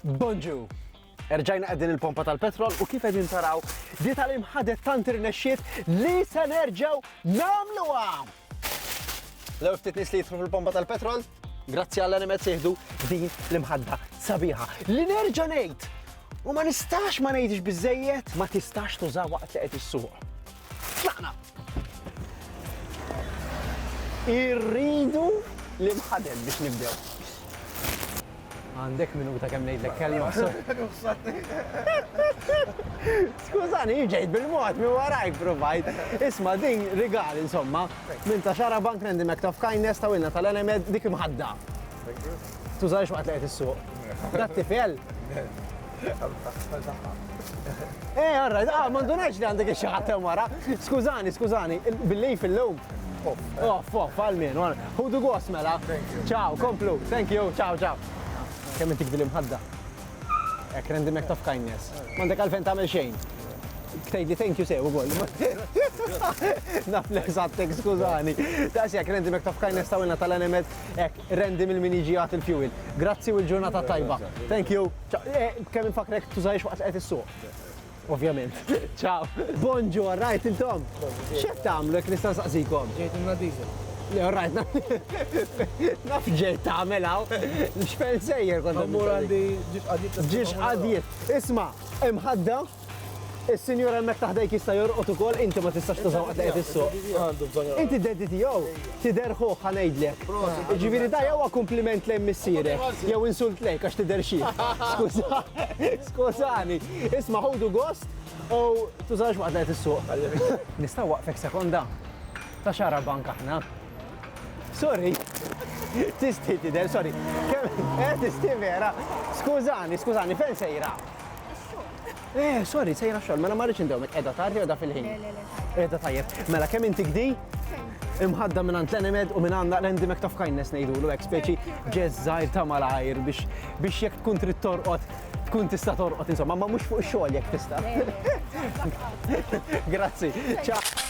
Bonġu! Erġajna għedin il-pompa tal-petrol u kif għedin taraw di tal-imħadet tant irnexxiet li se nerġaw namlu għam! L-ewwel ftit nies li jidħlu fil-pompa tal-petrol, grazzi għall animet sieħdu din l-imħadda sabiħa. Li nerġa' ngħid u ma nistax ma ngħidx biżejjed ma tistax tuża waqt li qed issuq. Tlaqna! Irridu l-imħadel biex nibdew. Għandek minuta kemm ngħidlek kelma. Skużani, jien ġejt bil-mod minn warajk provajt. Isma' din rigal insomma, minn ta' xara bank Randy McTough Kindness ta' wilna tal-Enemed dik imħadda. Tużax waqt li qed issuq. Dat-tipjel? Eh, all right, ah, ma ndunajx li għandek xi ħadd hemm wara. Skużani, skużani, billi fil-lum. Off, off, għal-min, ħudu għos mela. Ciao, komplu, thank you, ciao, ciao. Kemm intik dil imħadda? Ek rendi mek taf kindness. Mandek għalfen tamel xejn. Ktejt li thank you sew ukoll. Naf l-eżattek, skużani. Daqs jek rendi mek taf kindness tawilna tal-animet, ek Randy mil min jiġi jagħti l-fuel. Grazzi u l-ġurnata tajba. Thank you. Eh, kemm infakrek tużajx waqt qed issuq. Ovvjament. Ciao. Bonġu, rajt intom. X'qed tagħmlu jekk nista' nsaqsikom? Ġejt imna diesel. Le, rajt, naf ġej tagħmel hawn. X'fen sejjer kont. Ġiex qadjiet. Ġiex qadjiet. Isma', imħadda Is-sinjur hemmhekk ta' ħdejk jista' jorqod ukoll, inti ma tistax tużaw qatt li qed issuq. Għandu bżonn jorqod. Inti d-daddy tiegħu? Tidher ħuh ħa ngħidlek. Jiġifieri da jew huwa kumpliment lejn missierek, jew insult lejk għax tidher xiħ. Skuża, skużani. Isma' ħudu gost u tużax waqt li qed issuq. Nista' nwaqfek sekonda? Ta' xara bank aħna. Sorry. Tistħi tidher, sorry. Kemm eh tistħi vera. Skużani, skużani, fejn sejra? Eh, sorry, sejra xogħol, mela ma rridx indewmek qiegħda tardi qiegħda fil-ħin. Le, le, le. Qiegħda tajjeb. Mela kemm inti gdi? Imħadda minn għand l-enemed u minn għandna l-endi mek taf kindness ngħidulu hekk speċi ġeż żgħir ta' malajr biex biex jekk tkun trid torqod tkun tista' torqod insomma, ma mhux fuq ix-xogħol jekk tista'. Grazzi. Ciao.